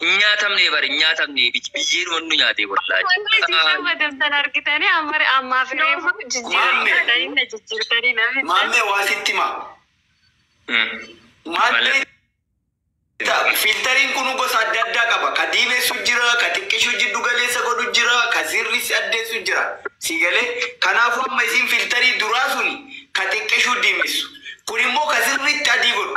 Hin nyaatamne bar hin nyaatamne biyyeedhuma nu nyaate wallahi. Wanti isin shabbatan san argitanii ammari ammaa fi reefu jijjiirtanii na jijjiirtanii na fixxan. Maammee waa sitti himaa. Maammee filtariin kunu gosa adda addaa qaba. Ka diimessu jira, ka xiqqishu jiddu galeessa godhu jira, ka sirrissi addeessu jira. Sii galee? Kanaafuu amma isiin filtarii duraa suni ka xiqqishu diimessu. Kun immoo ka sirriitti adii godhu.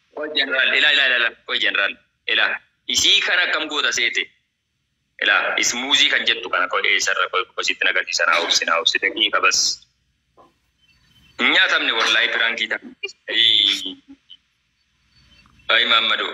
Qoy general ila ila ila qoy general ila isii kana akkam goota seete ila ismuuzii kan jettu kana qoy eessarra qoy qoy sitti nagarsiisa naa obsi naa obsi daqiiqa bas hin nyaatamne wallahi piraankii ta'a ayii ayii maammadoo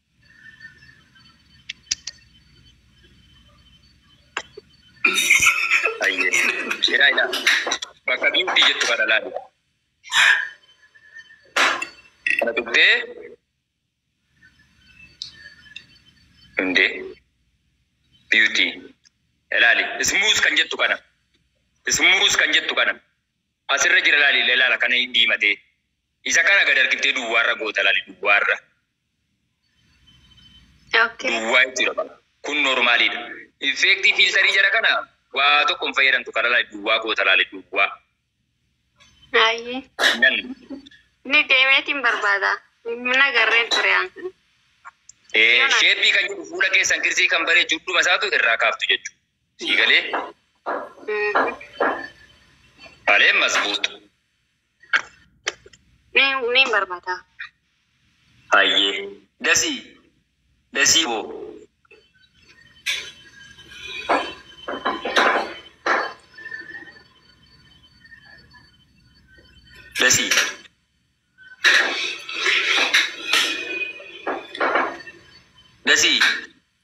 Ayyee. Ilaa ilaa. Bakka biiftii jettu kana laali. Kana tuqxee. Hundee. Biiftii. Ilaali. Ismuus kan jettu kana. Ismuus kan jettu kana. Asirra jira laali ilaala kana diimatee. Isa kana gad argiftee duwwaarra goota laali duwwaarra. Okay. duwwaa jechuudha bara. Kun normaaliidha. Infeektii fiiltarii jara kana waa tokko hin fayyadamtu kana laali duwwaa goota laali duwwaa. Ayyee. Nan Ni deemeetiin barbaada. Hin agarreen ture aan. eh, Yoona. sheeppii kan jedhu fuula keessan kirsii kan baree judhuma isaatu irraa kaaftu jechuudha. Sii galee Mhm. balee masbuutu. Mee mee hin barbada. Hayyee dasii dasii boo. Dasii. Dasii.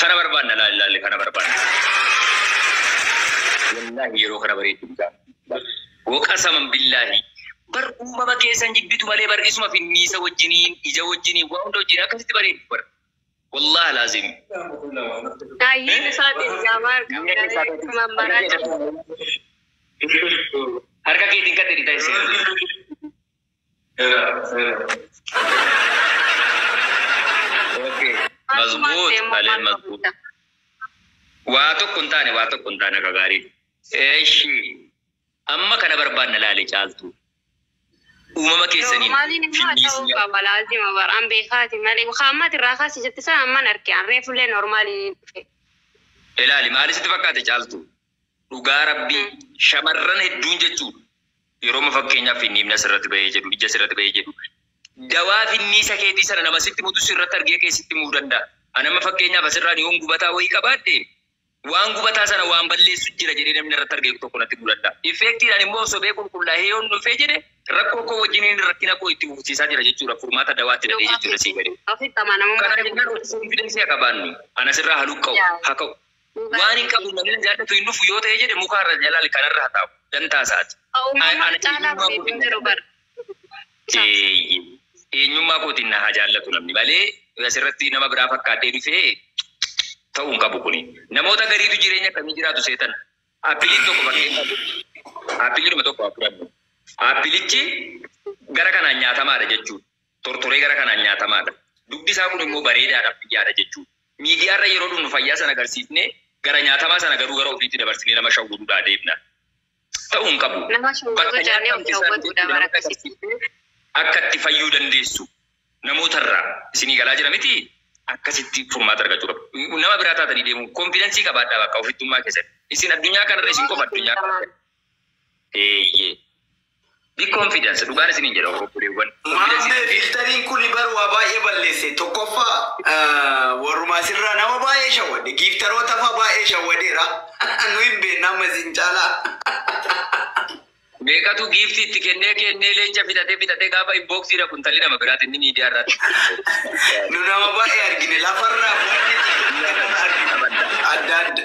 Kana barbaadna laali laali kana barbaadna. Wallahi yeroo kana bareeddu bitaa. Waqasaman billahi. Bar uumama keessan jibbitu malee bar isuma finniisa wajjiniin ija wajjiniin waa hunda wajjiniin akkasitti bareeddu bar. Wallahi laazim. Daayyiin isaa biyyaa baar qabdanii mammaraa jiru. Harka keetiin kan dhidhi ta'e seera. Waa tokko hin taane waa tokko hin taane akka gaariiti. Eshi amma kana barbaanna laali caaltuu uumama keessaniin Normaliin immoo ta'uu finnisiin qaba laazima bar an beekaati malee ka ammati irraa kaasi jette san amman arke an reefullee normaliin dhufe. ilaali maali sitti fakkaate caaltuu. Dhugaa rabbii shamarran hedduun jechuu yerooma fakkeenyaaf finniimni asirratti bahee jedhu ija asirratti bahee jedhu dawaa finniisa keetii sana nama sitti mutu sirratti argee kee sitti muu danda'a. Anamma fakkeenyaaf asirraan yoon gubataa wayii qabaadhe waan gubataa sana waan balleessu jira jedhee namni irratti argee tokko natti muu danda'a. Effeektiidhaan immoo sobee qulqullaa'ee yoon dhufee jedhe rakkoo koo wajjiniin rakkina koo itti fufsiisaa jira jechuudha furmaata dawaatti dadhee jechuudha sii galee. Kana jennaan of confidence haa qabaannu. Ana sirraa haluqqa'u haa ka'u. Waan hin qabu namni na jaallatu hin dhufu yoo ta'ee jedhe muka irra jalaal kan irra hataa'u dantaa isaati. Eenyummaa kootiin na jaallatu. Eeyyee eenyummaa kootiin na haa jaallatu namni malee asirratti nama biraa fakkaadhee dhufee ta'uu hin qabu kuni. Namoota gariitu jireenya akkamii jiraatu seetan? Appiliin tokko fakkeenyaaf appiliidhuma tokko haa fudhannu. Appilichi gara kanaan nyaatamaadha jechuudha. Tortoree gara kanaan nyaatamaadha. Dugdi isaa kun immoo bareedaadha fayyaadha jechuudha. Miidiyaarra yeroo dhumnu fayyaa sana agarsiifnee gara nyaatamaa sana garuu gara ofiitti dabarsinee nama shawwuduudhaa deebna. Ta'uu hin qabu. Nama shawwuduu Bakka jaanee nyaata of miti isaan shawwuduudha jedhutti bara namoota akkasii. agarsiiftee akka itti fayyuu dandeessu namootarraa isinii galaa jira mitii? Akkasitti furmaata argachuu qabdu. Nama biraa taatanii deemuu konfidansii qabaadhaa bakka ofittummaa keessatti. Isin addunyaa kanarra isin Yeroo qofa addunyaa hedduu kana. Eeyyee. Be confidence dhugaan isiniin jedha obboleewwan. Maammee filtariin kuni bar waa baay'ee balleesse tokkoffaa warruma asirraa nama baay'ee shawwadde giiftarootafaa baay'ee shawwadeera nu hin beekna amma isin caalaa Meeqatu giiftii itti kennee kennee leenca fixatee fixatee gaafa inboxii dhaqu intalli nama biraati inni miidiyaa irraatti. nu nama baay'ee argine lafarraa wanni argine adda adda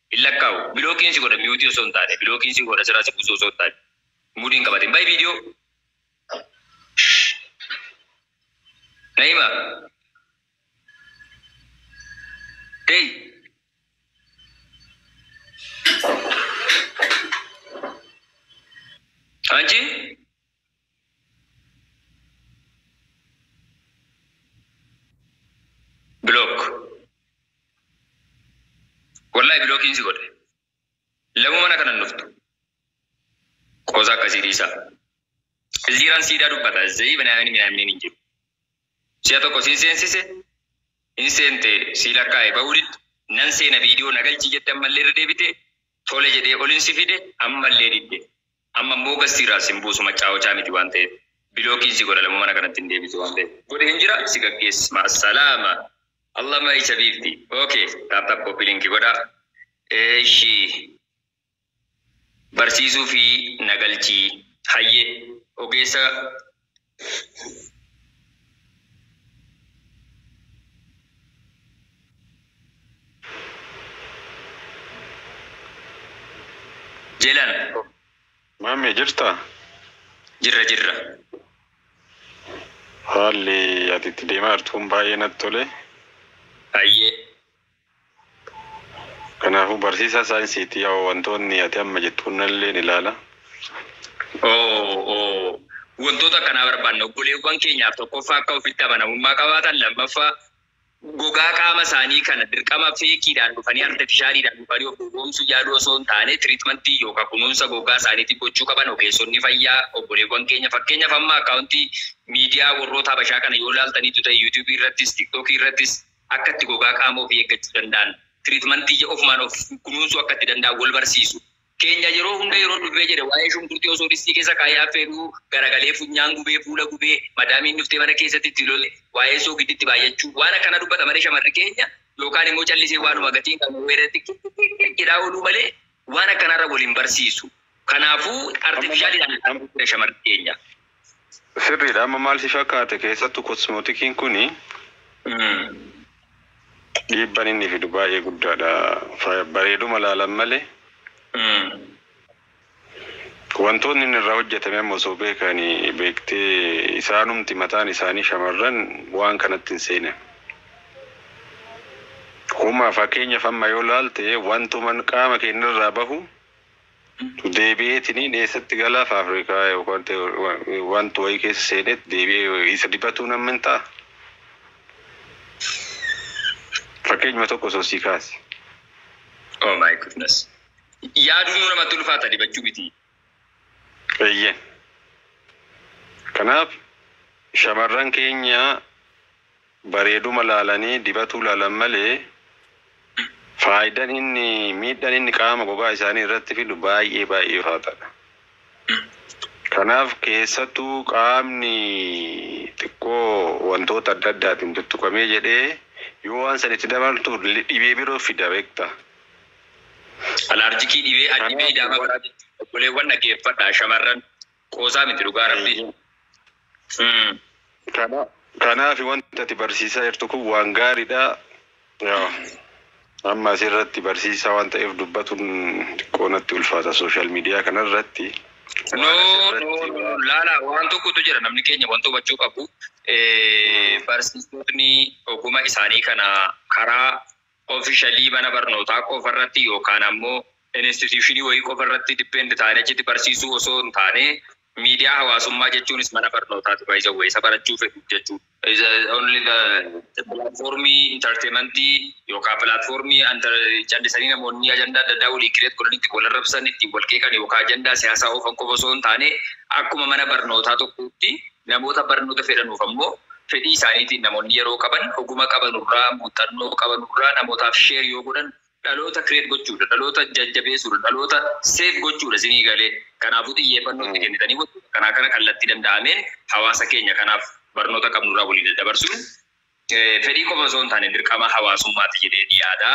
Hin lakkaa'u. Bilookiin si godha mute osoo hin taane. Bilookiin si godha sirraa si buusuu osoo hin taane. Mudii hin qabatin. Bahi video. Naima. Dey. Anchi. Block wallahi block si godhe lamu mana kana hin dhuftu qoosa akkasii dhiisa ziiran siidaa dubbata zayii binaamini minaaminiin hin jiru si'a tokko siin seensise hin seente sii lakkaa'e ba'uu didde nan seena viidiyoo na galchii jette ammallee irra deebite tole jedhee olin si fide ammallee didde Amma immoo gastii irraa sin buusu machaawochaa miti waan ta'eef bilookiin si godha lamuu mana kanatti hin deebitu waan ta'eef godheen jira si gaggees ma'assalaama Allah my chabiibti ok tap tap copy link godha eshi barsiisuufi na galchii hayyee ogeessa Jelan Maamee jirtaa? jirra jirra. Haalli ati itti deemaa jirtu kun baay'ee natti tole. Hayyee. Kanaafuu barsiisaa saayinsiiti yaa'u wantoonni ati amma jettu kunnalleen ilaala. Oo, oo, wantoota akkanaa barbaanna. Obboleewwan keenyaaf tokkoffaa akka ofitti amanamummaa qabaatan, lammaffaa gogaa qaama isaanii kana dirqama feekiidhaan dhufanii, artifishaaliidhaan dhufanii of gowwoomsuu yaaluu osoo hin taane tiriitmantii yookaan kunuunsa gogaa isaaniitiif gochuu qaban ogeessonni fayyaa obboleewwan keenya. Fakkeenyaaf amma akkaawuntii miidiyaa warroota Habashaa kana yoo ilaaltaniittu ta'e, Yuutuubii irrattis, Tiiktookii irrattis, akka itti gogaa qaama ofii eeggachuu danda'an, tiriitmantii ija ofumaan of kunuunsuu akka itti danda'an wal barsiisu. Keenya yeroo hunda yeroo dubbee jedhe waa'ee shunkurtii osoo distii keessa kaa'ee affeeluu, garagalee funyaan gubee, fuula gubee, madaamiin dhuftee mana keessatti itti lole, waa'ee soogiddi itti baay'achuu, waan akkanaa dubbata malee shamarri keenya, yookaan immoo callisee waanuma gatii hin qabne wayii irratti kikkikkikk jedhaa ooluu malee waan akkanaarra wal hin barsiisu. Kanaafuu artifishaaliidhaan shamarri keenya. Sirriidha amma maal si fakkaate keessattu kosmootikiin kuni dhiibban inni fidu baay'ee guddaadha Fa- bareeduma laalan malee wantoonni inni irraa hojjetame amma osoo beekani beektee isaanumti mataan isaanii shamarran waan kanatti hin seenan Huma fakkeenyaaf amma yoo laalte wantuman qaama keenyarraa bahu Deebi'eetiniin eessatti galaa faafrikaa yookaan te- wa- wanta wayii keessa seeneet deebi'ee isa dibatuu nan mintaa? Fakkeenyuma tokko osoo sii kaase. Oh my goodness. Yaaduun nu namatti ulfaata dibachuu miti. Eeyyeen. Kanaaf shamarran keenya bareeduma laalanii dibatuu laalan malee faaydan inni miidhan inni qaama gogaa isaanii irratti fidu baay'ee baay'ee ulfaataadha. Kanaaf keessattuu qaamni xiqqoo wantoota adda addaatiin tuttuqamee jedhee yoo waan san itti dabaltu dhibee biroo fida beekta. Alaarjikii dhibee Kanaaf adhibee idaamaa wal- biraa jechuudha. Obboleewwan dhageeffadhaa shamarran Qoosaa miti dhugaa rabbii. Eeyyee. Mm. Kana kanaafi wanta ati barsiisaa jirtu kun waan gaariidha. Yaa, Amma asirratti barsiisaa waan ta'eef dubbatuun xiqqoo natti ulfaata sooshaal miidiyaa kanarratti. No, Waan no, asirratti no, no. waan Laala waan tokkotu jira namni keenya wanta hubachuu qabu. Eh, Mm. Barsiisotni oguma isaanii kana karaa officially mana barnootaa qofa irratti yookaan ammoo institution wayii qofa irratti depend taanee achitti barsiisuu osoo hin taane miidiyaa hawaasummaa jechuunis mana barnootaati by the way isa barachuu fedhu jechuu is uh, only the platformii entertainmentii yookaan platformii enter- callisanii namoonni ajandaa adda addaa walii kireet godhan itti wal arrabsan ittiin wal qeeqan yookaan ajandaa siyaasaa oofan qofa osoo hin taane akkuma mana barnootaa tokkotti Namoota barnoota fedhanuuf ammoo fedhii isaaniitiin namoonni yeroo qaban, oguma qabanurraa, muuxxannoo qabanurraa namootaaf share yoo godhan dhaloota create gochuudha, dhaloota jajjabeesuudha, dhaloota save gochuudha isinii galee? Kanaafuu xiyyeeffannoo itti kennitanii wantoota akkanaa kana kallattii danda'ameen hawaasa keenya kanaaf barnoota qabnurraa walii daddabarsuun fedhii qofa osoo hin taane dirqama hawaasummaati jedheen yaada.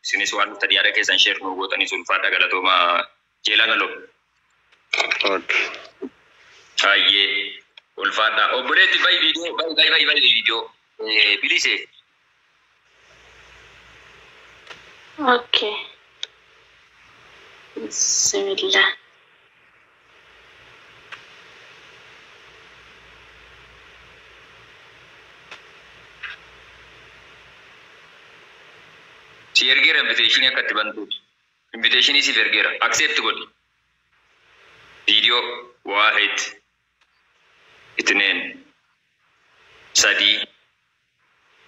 Isinis waan dhuftanii yaada keessan share nuu gootaniif ulfaadhaa galatoomaa. Jeelaa Galoo. Ok. Hayyee ulfaadhaa obboleetti bayi viidiyoo bayi bayi bayi bayi viidiyoo Eh, bilise Okay. Bismillah. si ergeera inviteeshinii akka itti bantuuti. Invitation siif ergeera accept godhi video waahid itneen sadii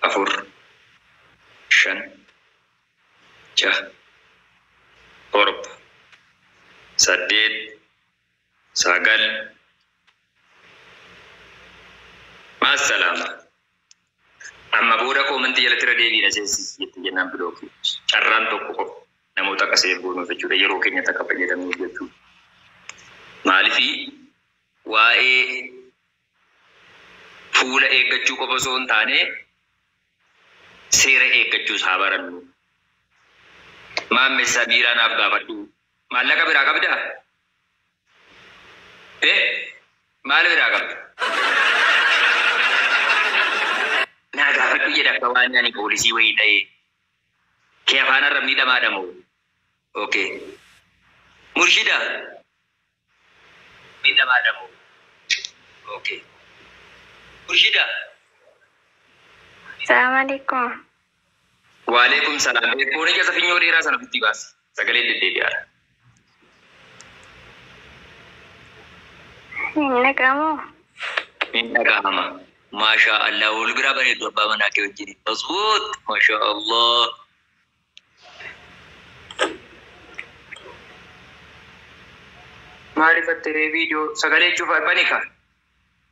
afur shan jaha torba saddeet sagal maassalaama. Amma booda comment jalatti irra deebiin aseessi jette jennaan block. Carraan tokko qofa namoota akka save goonuuf jechuudha yeroo keenyatti akka fayyadamnuuf jechuudha. Maalifi waa'ee fuula eeggachuu qofa osoo hin taane seera eeggachuus haa barannu. Maammessa biiraa naaf gaafadhu. Maallaqa biraa qabdaa? Bee maal biraa qabda? Naa gaafadhu jedhe akka waani ani poolisii wayii ta'ee kee afaan arrabnii dhamaadha moo ok murshida arrabnii dhamaadha moo ok murshida. Salaam alekum. Waaleykum salaam ee kooni keessa finyoo dheeraa sana ofitti baasi sagaleen deddeebi'aadha. Hin dhaga'amoo? Hin dhaga'ama. Maashaa Allah wal biraa bareeddu abbaa manaa kee wajjin. Masbuut maashaa Allah. Maaliif attiree viidiyoo sagalee cufa banika.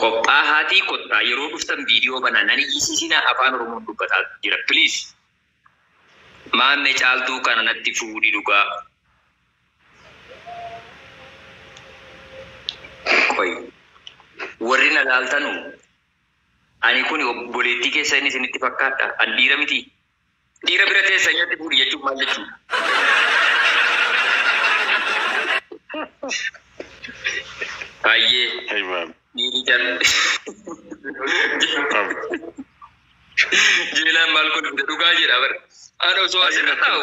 Qophaahaatii kottaa yeroo dhuftan video banaa nan iyyisiisinaa afaan oromoon dubbataa jira please Maamme caaltuu kana natti fuudhi dhugaa qoy warri na laaltanu ani kuni obboleettii keessani isinitti fakkaadha an dhiira mitii Dhiira bira teessa nyaatti fuudhi jechuun maal jechuudha? Hayyee Hey babe, dhiirri jar babe. jeelaan maal godhu dhugaa jedha bara. Ana osoo asirra taa'u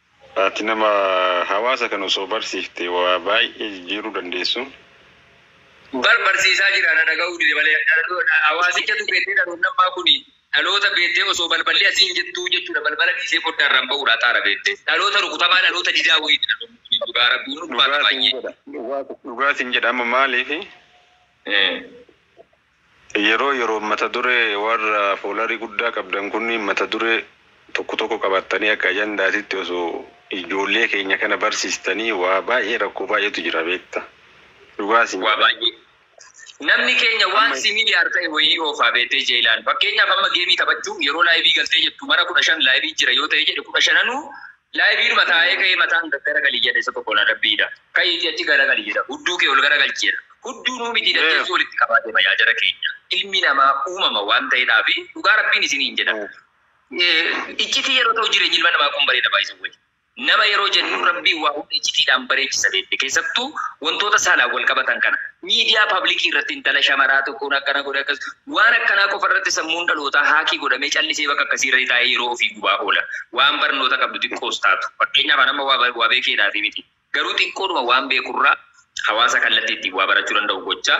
Ati nama hawaasa kana osoo barsiifte waa baay'ee jijjiiruu dandeessu. Bar barsiisaa jira na dhaga'uu dide malee. Hawaasicha tu beddee dhaloonni ammaa kun dhaloota beeddee osoo balballi asii hin jettuu jechuudha balbala dhiisee foddaarraan ba'uudha xaara beeddee. Dhaloota rukutamaa dhaloota didaa wayiiti dhaloonni kun dhugaa rabbii hin ulfaata baay'ee. Dhugaa sin jedha amma maaliif Yeroo yeroon mata duree warra foolarii guddaa qabdan kunniin mata duree tokko tokko qabattanii akka ajandaatitti osoo ijoollee keenya kana barsiistanii waa baay'ee rakkoo baay'eetu jira beekta dhugaa siin Waa jedha. baay'ee. Namni keenya waan Amma simiilyar ta'e wayii oofaa beektee Jeylaan. Fakkeenyaaf amma geemii taphachuu yeroo laayivii galtee jettu mara 15 laayivii jira yoo ta'ee jedhe 15nuu Live'dhuma taa'ee ka'ee mataan gaggaragali jedha isa tokkoon adabbiidha. Ka'iitii achi garagali jedha. Hudduu kee ol garagalchi jedha. Hudduu nuu mitii daddeessu walitti qabaa deema yaa jara keenya. Ilmi namaa uumama waan ta'edhaafi dhugaa Rabbiin isiniin jedha. Iccitii yeroo ta'u jireenyi ilma namaa kun bareeda by the way. Nama yeroo jennu Rabbiin waa hunda iccitiidhaan bareechisa beekte. Keessattuu wantoota saalaan wal qabatan kana. Miidiyaa pablikiirratti intala shamaraa tokkoon akkana godhe akkas Waan akkanaa qofa irratti sammuun dhalootaa haakii godhamee callisee bakka akkasii irratti taa'ee yeroo ofii gubaa oola. Waan barnoota qabdu xiqqoos taatu. Fakkeenyaaf an amma waa waa beekeedhaafii miti. Garuu xiqqoodhuma waan beeku irraa hawaasa kallattii ittiin waa barachuu danda'u gochaa,